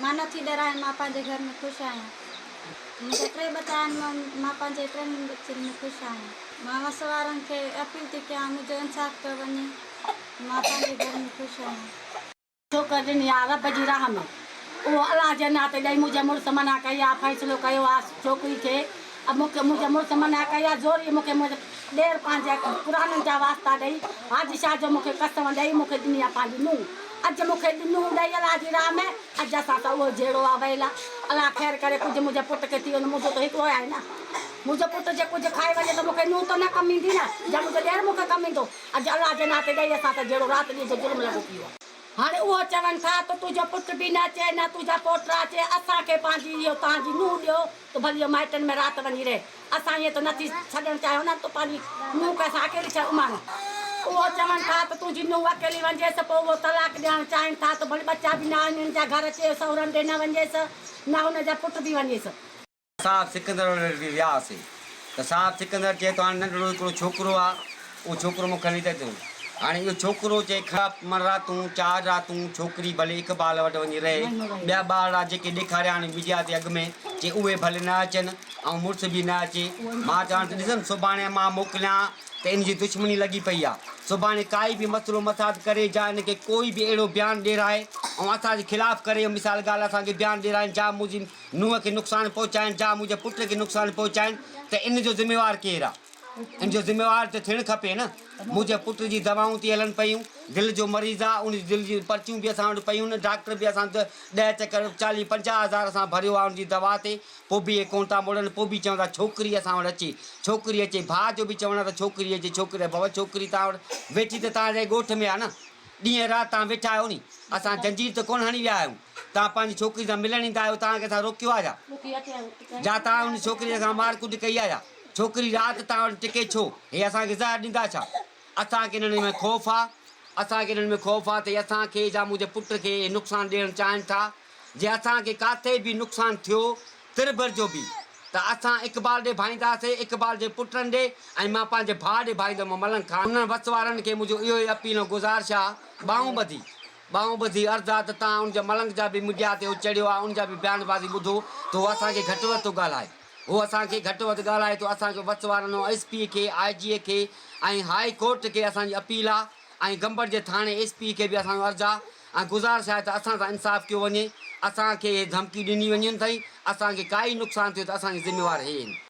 مان نه ٿي ڏرايان، مان پنهنجي گهر ۾ خوش آهيان. منهنجا ٽي ٻچا آهن، مان پنهنجي ٽنهي ٻچن ۾ خوش آهيان. مان وس وارن کي اپيل ٿي ڪيان، منهنجو انصاف ڪيو وڃي، مان پنهنجي گهر ۾ خوش آهيان. ٺوڪر ڏني آ رب جي راهه ۾، اهو الله جي ناتي ڏئي منهنجي مڙس منع ڪئي آ، فيصلو ڪيو آ ڇوڪري کي. مون کي منهنجي مڙس منع ڪئي ها. زوريء مون کي منهنجي ڏير پنهنجي پراڻن جا واسطا ڏئي، حاجي شاهه جو مون کي قسم ڏئي مون کي ڏني ها پنهنجي نونهن. اڄ مون کي ڏنو ڏئي الله جي راهه ۾، اڄ اسان سان اهو جهيڙو ها. ويلا الله خير ڪري ڪجهه منهنجي پٽ کي ٿي ويندو. منهنجو ته هڪڙو ئي آهي نه. منهنجو پٽ جي ڪجهه کائي وڃي ته مون کي نونهن ته نه ڪم ايندي نه. يا منهنجو ڏير مون کي ڪم ايندو. اڄ الله جي ناتي ڏيئي اسان سان جهيڙو رات ڏينهن جو ظلم لڳو پيو ها. هاڻي اهو چون ٿا ته تنهنجو پٽ به نه اچي نه تنهنجا پوٽرا اچي اسان کي پنهنجي اهو تان جي نونهن ڏيو ته ڀلي اهو مائٽن ۾ رات وڃي رهي اسان ائين ته نه ٿي ڇڏڻ چاهيون نه ته پنهنجي نونهن کي اسان اڪيلي ڇڏ اماڻيون اهو چون ٿا ته تنهنجي نونهن اڪيلي وڃيس پوء اهو طلاق ڏيڻ چاهين ٿا ته ڀلي ٻچا به نه آهن ان جا گهر اچي سهرن ڏي نه وڃيس نه ان جا پٽ به وڃيس. اسان سڪندر وٽ وياسي ته سان سڪندر چئي ٿو هاڻي ننڍڙو هڪڙو ڇوڪرو آ اهو ڇوڪرو مون کڻي ته ڏيو هاڻي اهو ڇوڪرو چئي کڻ پمن راتون چار راتون ڇوڪري ڀلي اقبال وٽ وڃي رهي ٻيا ٻارڙا جيڪي ڏيکاريا هاڻي ميڊيا تي اڳ ۾ چئي اهي ڀلي نه اچن ۽ مڙس به نه اچي مان چوان ته ڏسن سڀاڻي مان موڪليان ته ان جي دشمني لڳي پئي آ سڀاڻي ڪائي به مسئلو مساعد ڪري جا ان کي ڪوئي به اهڙو بيان ڏيرائي ۽ اسان جي خلاف ڪري مثال ڳالهه اسان کي بيان ڏيرائين جا موجب نوح کي نقصان پهچائين جا منهنجي پٽ کي نقصان پهچائين ته ان جو ذميوار ڪير آ؟ ان جو ذميوار ته ٿيڻ کپي نه. منهنجي پٽ جي دوائون ٿي هلن پيون، دل جو مريض آ، ان جي دل جون پرچيون به اسان وٽ پيون نه، ڊاڪٽر به اسان ڏهه چڪر چاليهه پنجاهه هزار اسان ڀريو آ ان جي دوا تي، پوء به اهي ڪونه ٿا مڙن، پوء به چون ٿا ڇوڪري اسان وٽ اچي، ڇوڪري اچي، ڀاء جو به چوڻ آ ته ڇوڪري اچي، ڇوڪري اچي، ڀوء ڇوڪري توهان وٽ ويٺي ته توهان جي ڳوٺ ۾ آ نه. ڏينهن رات تان ويٺا آهيو ني. اسان زنجير ته ڪونه هڻي ويا آهيون. تان پنهنجي ڇوڪري سان ملڻ ايندا آهيو تان کي اسان روڪيو آهي ڇا؟ جا تان ان ڇوڪري سان مار ڪٽ ڪئي آهي ڇا؟ ڇوڪري رات تان وٽ ٽڪي ڇو؟ هي اسان کي زهر ڏيندا ڇا؟ اسان کي انهن ۾ خوف آهي. اسان کي انهن ۾ خوف آهي ته هي اسان کي يا منهنجي پٽ کي نقصان ڏيڻ چاهين ٿا. جي اسان کي ڪاٿي به نقصان ٿيو. تر بر جو به ته اسان اقبال ڏي ڀائيندا سي، اقبال جي پٽن ڏي ۽ مان پنهنجي ڀاء ڏي ڀائيندم ملنگ خان. انهن وس وارن کي منهنجو اهو ئي اپيل ۽ گذارش آ، ٻانهون ٻڌي، ٻانهون ٻڌي عرض آ ته توهان ان جا ملنگ جا به ميڊيا تي چڙهيو آ، ان جا به بيان بازي ٻڌو ته هو اسان کي گهٽ وڌ ٿو ڳالهائي. هو اسان کي گهٽ وڌ ڳالهائي ٿو، اسان کي وس وارن ۽ ايس پي کي، آء جي کي ۽ هائي ڪورٽ کي اسان جي اپيل آ، ۽ گمبٽ جي ٿاڻي ايس پي کي به اسان جو عرض آ ۽ گذارش آهي ته اسان سان انصاف ڪيو وڃي، اسان کي اهي ڌمڪي ڏني وڃين ٿئي، اسان کي ڪائي نقصان ٿيو ته اسان جي ذميوار هي هين.